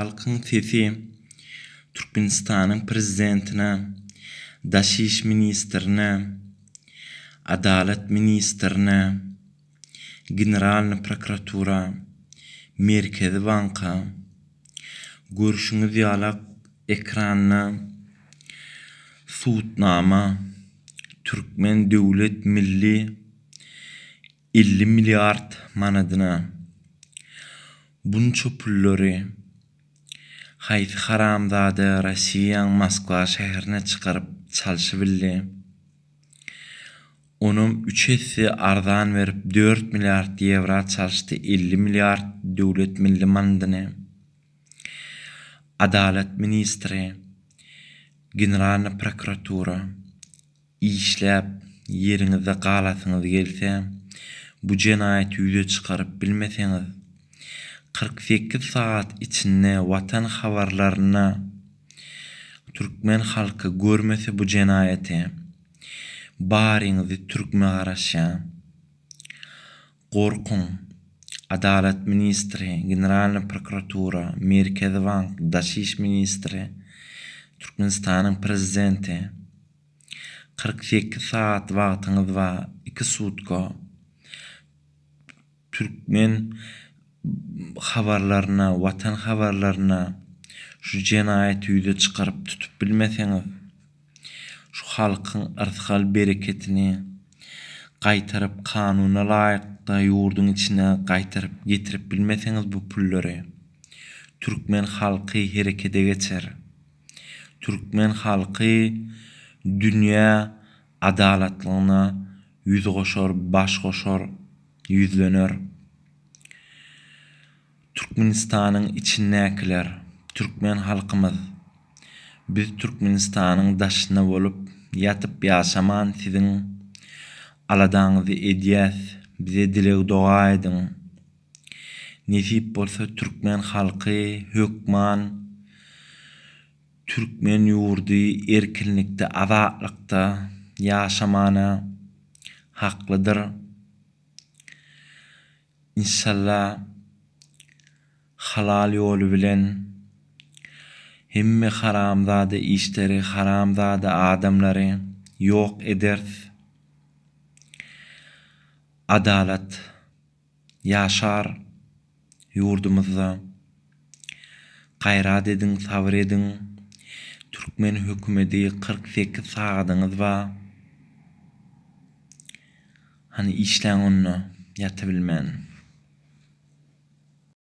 Halkyň sesi Türkmenistanyň Prezidentine, Daşiş ministrine, Adalat ministrine, Generalny prokuratura, Merkezi banka, görşüňiz ýala ekranda Sudnama, Türkmen döwlet milli Elli milliard manadyna bunça pullary haýsy haramzada Rossiýaň Moskwa şäherine çykaryp çalşybildi? Onam üç esse arzan berip dört milliard ýewra çalşdy elli milliard döwlet milli manadyny. Adalat ministri, Generalna prokuratura. Işläp, ýeriňizde galasyňyz gelse, bu jenaýaty ýüze çykaryp bilmeseňiz, kyrk sekiz sagat içinde Watan habarlarynda türkmen halky görmese bu jenaýaty, baryňyzy türkme garaşýan. Gorkuň, Adalat ministri, Generalnyý prokuratura, Merkezi bank, Daş iş ministri, Türkmenistanyň Prezidenti. Kyrk sekiz sagat wagtyňyz bar, iki sutka. Türkmen habarlaryna, watan habarlaryna şu jenaýaty ýüze çykaryp tutup bilmeseňiz, şu halkyň yrsgal bereketini gaýtaryp kanuna laýykda ýurduň içine gaýtaryp getirip bilmeseňiz bu pullary, türkmen halky herekede geçer. Türkmen halky dünýä adalatlygyna ýüz goşar, baş goşar, ýüzlener. Türkmenistanyň içindäkiler, türkmen halkymyz, biz Türkmenistanyň daşynda bolup, ýatyp ýaşaman siziň aladaňyzy edýäs, bize dileg-doga ediň. Nesip bolsa türkmen halky hökman türkmen ýurdy erkinlikde azatlykda ýaşamana haklydyr. Inşalla halal ýoly bilen hemme haramzada işleri haramzada adamlary ýok eders. Adalat Ýaşar ýurdumyzda Gaýrat ediň sabyr ediň Türkmen hökümedi kyrk sekiz sagadyňyz ba Hany işläň onda ýatybilmän.